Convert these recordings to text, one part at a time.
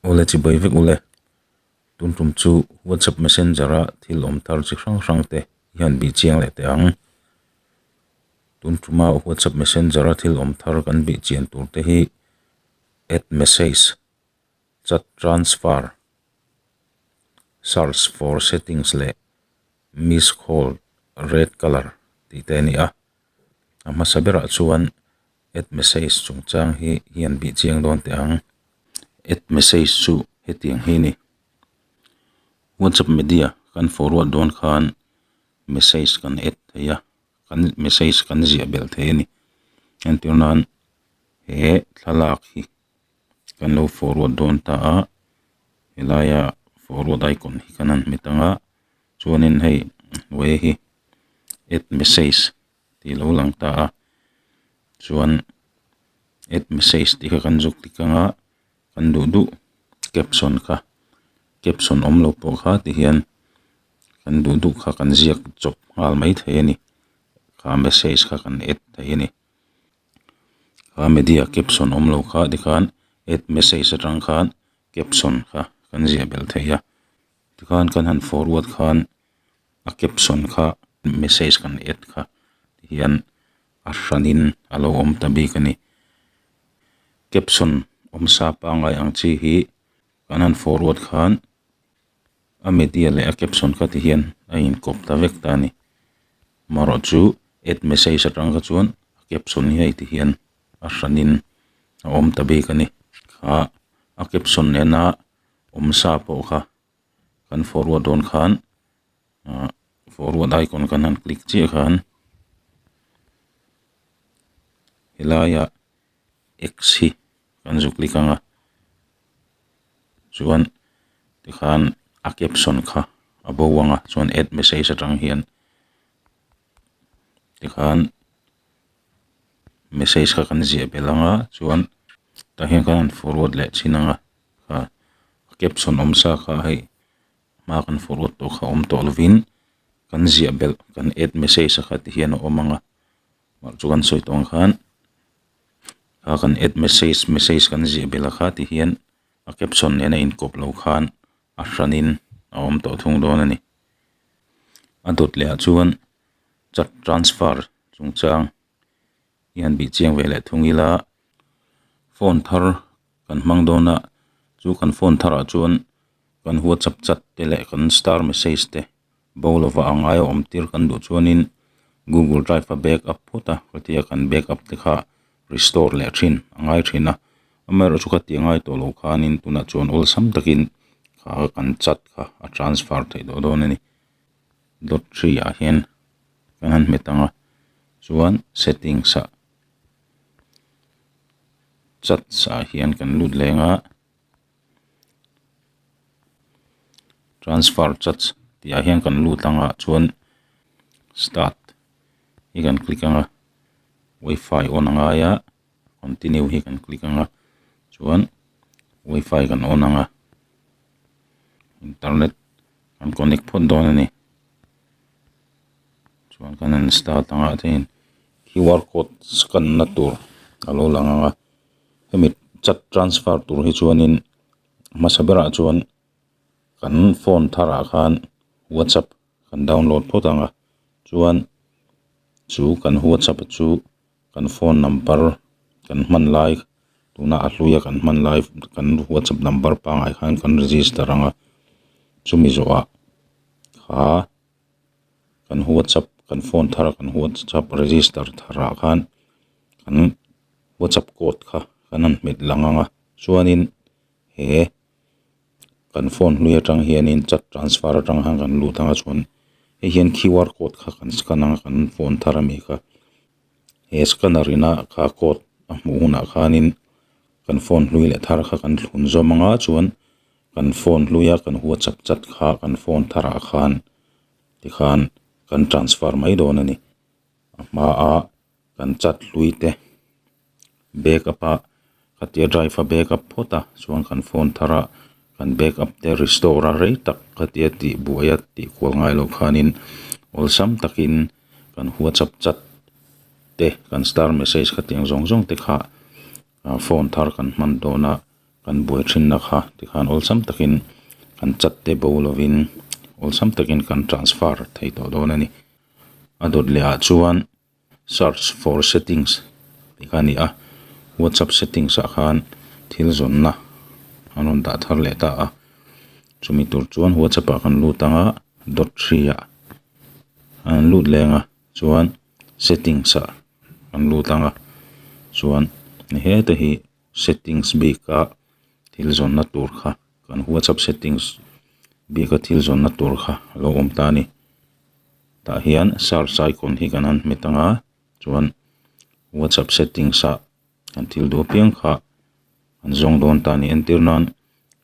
Ule chi bawi vek ule. Tumtum chu WhatsApp Messenger a thil awm tar chi hrang hrang te i han bih chiang leh teh ang. Tumtuma WhatsApp Messenger a thil awm tar kan bih chian tur te hi add message, chat transfer, search for settings leh missed call red colour tih te a ni a. a hmasa berah chuan add message chungchang hi hi an bih chiang dawn teh ang add message chu hetiang hi a ni whatsapp media kan forward dawn khan message kan add theih a kan message kan ziah belh theih a ni entir nan he thlalak hi kan lo forward dawn ta a he laia forward icon hi kan han hmet ang a. chuanin hei vei hi add message tih lo lang ta a chuan add message tih kha kan zuk tik ang a kan duh duh caption kha caption awm lo pawh kha ti hian kan duh duh kha kan ziak chawp nghal mai thei a ni kha message kha kan add thei a ni kha media caption awm lo kha ti khan add message atang khan caption kha kan ziah belh thei a. Tikhan kan han forward khan a caption kha message kan en kha hian a hranin a lo awm ta bik a ni caption awm sa pangai ang chi hi kan han forward khan a media leh a caption kha ti hian a inkawp ta vek ta a ni marawh chu add message atang kha chuan caption hi a ti hian a hranin a awm ta bik a ni a caption en a. awm sa pawh kha kan forward dawn khan ah forward icon kan han click chiah khan helaiah ah x hi kan zu click anga chuan tikhan a caption kha a bo anga chuan add message atang hian-- tikhan message kha kan ziah belh anga chuan tah hian khan an forward leh chin anga a caption awm sa kha hei hma kan forward tawh kha awm tawh lovin kan ziah belh kan add message a kha tih hian a awm ang a mah chu kan sawi tawng ang khan a kan add message message kan ziah belh a kha tih hian a caption nena inkawp lo khan a hran in a awm tawh thung dawn a ni. a dawt leh ah chuan chak transfer chung chang hian bih chiang ve leh thung ila phone thar kan hmang dawn a chu kan phone thar ah chuan kan whatsapp chat te leh kan star message te bo lo va ang ai a awm tir kan duh chuan in google drive a back up phut a khawtia kan back up te kha restore leh thin a ngai thin a. Amer chu ka ti ngai tawh lo khanin tunah chuan awlsam takin kha kan chat kha a transfer theih tawh dawn a ni. Lottery ah hian ka han hmet ang a, chuan settings ah chats ah hian kan lut leng a, transfer chats tih ah hian kan lut ang ah chuan start hi kan click ang a, WiFi on a ngai a. continue hi kan click anga chuan wifi kan on anga internet kan connect phawt dawn a ni chuan kan han start anga chuan qr code scan na tur a lo lang anga hemi chat transfer tur hi chuanin hmasa berah chuan kan phone tharah khan whatsapp -- kan download phawt ang a chuan chu kan whatsapp a chu kan phone number kan hman lai tuna a hluia kan hman lai kan whatsapp number pangai khan kan register ang a chumi zawh ah kha kan whatsapp kan phone thar a kan whatsapp register thar ah khan kan whatsapp code kha kan han hmet lang ang a chuan in he-- kan phone hming atang hian in chat transfer atang khan kan lut ang a chuan hei hian QR code kha kan scan ang a kan phone thar a nih kha he scanner in a QR code a hmuh hun ah khan in kan phone hlui leh thar kha kan thlun zawm ang a chuan kan phone hlui a kan whatsapp chat kha kan phone thar ah khan tikhan kan transfer mai dawn a ni a hma ah-- kan chat hlui te back up a ka ti a drive a back up phawt a chuan kan phone thar a kan back up te restore a rei tak ka ti a tih buai a tih kual ngai loh khanin awlsam takin kan whatsapp chat te kan star message kha tih ang zawng zawng te kha ah phone thar kan hman dawn a kan buai thinna kha tikhan awlsam takin kan chat te bo lovin awlsam takin kan transfer thei tawh dawn a ni a dawt leh ah chuan. Search for settings tih kha a ni a, WhatsApp settings ah khan thil zawnna an rawn dah thar leh ta a, chumi tur chuan WhatsApp ah kan lut ang a, dot hri ah an lut leng ah chuan settings ah kan lut ang a, chuan ni hetah hi. settings bika thil zawnna tur kha kan whatsapp settings bika thil zawnna tur kha a lo awm ta a ni tah hian search icon hi kan han hmet anga chuan whatsapp settings ah kan thil duh apiang kha an zawng dawn ta a ni entir nan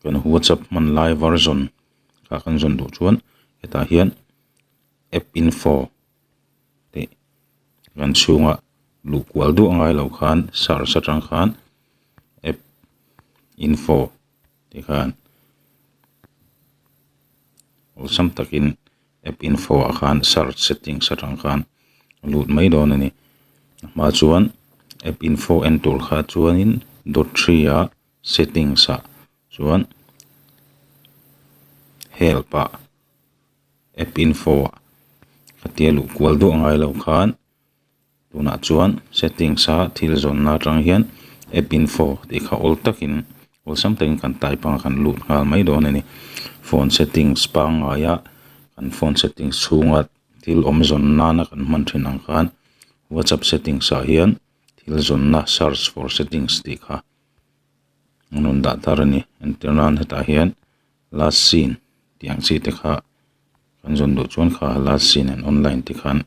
kan whatsapp hman lai version kha kan zawn duh chuan hetah hian app info . kan chhunga luh kual duah ngai lo khan search atang khan app info te khan awlsam takin app info ah khan search settings atang khan a lut mai dawn a ni a hma ah chuan app info en tur kha chuanin dawt hria settings ah-- chuan help ah app info ah ka tia luh kual duah ngai lo khan tunah chuan settings a thil zawn na atang hian app info tih kha awl tak in awlsam tak in kan type ang a kan lut nghal mai dawn a ni phone settings pangngai a kan phone settings chhung ah thil awm zawn nan a kan hman thin ang khan whatsapp settings ah hian thil zawn na search for settings tih kha-- an rawn dah tar a ni entir nan hetah hian last seen tih ang chi te kha kan zawn duh chuan kha last seen and online te khan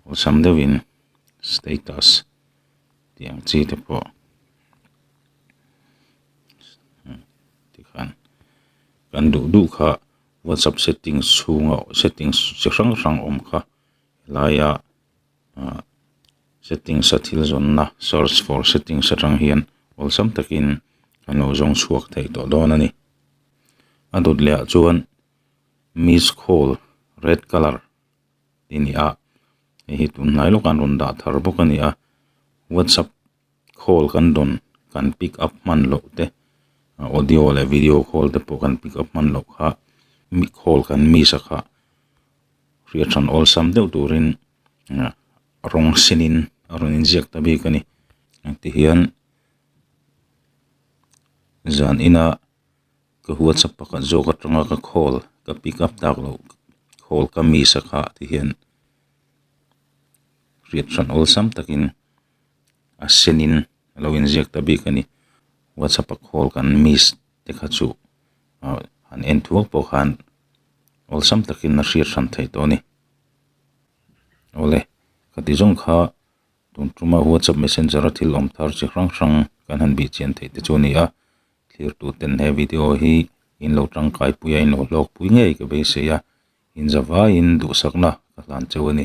awlsam deuh in status tih ang chi te pawh kan duh duh kha whatsapp settings chhunga settings chi hrang hrang awm kha helai a-- ah settings a thil zawn na search for settings atang hian awlsam takin kan lo zawng chhuak thei tawh dawn a ni a dawt leh ah chuan miss call red colour ti nia hei hi tun hnai lawkah an rawn dah thar bawk a ni a whatsapp . call kan dawn kan pick up hman loh te audio leh video call te pawh kan pick up hman loh kha miss call kan miss a kha hriathrân awlsam deuh turin ah rawng sinin a rawn inziak ta bik a ni ah tihian zan ina ka whatsapp pakhat zawk atanga ka call ka pick up tak loh call ka miss a kha tihian hriathrân awlsam takin. a sen in a lo in ziak ta bik a ni whatsapp a call kan miss te kha chu ah han en thuak pawh khan awlsam tak in a hriat hran thei tawh a ni awle ka ti zawng kha tun tuma whatsapp messenger a thil awm tar chi hrang hrang kan han bih chian theih te chu a ni a thlir tu ten he video hi in lo tangkai pui a in lo hlawk pui ngei ka beisei a in za vai in duhsak na ka hlan cheu a ni.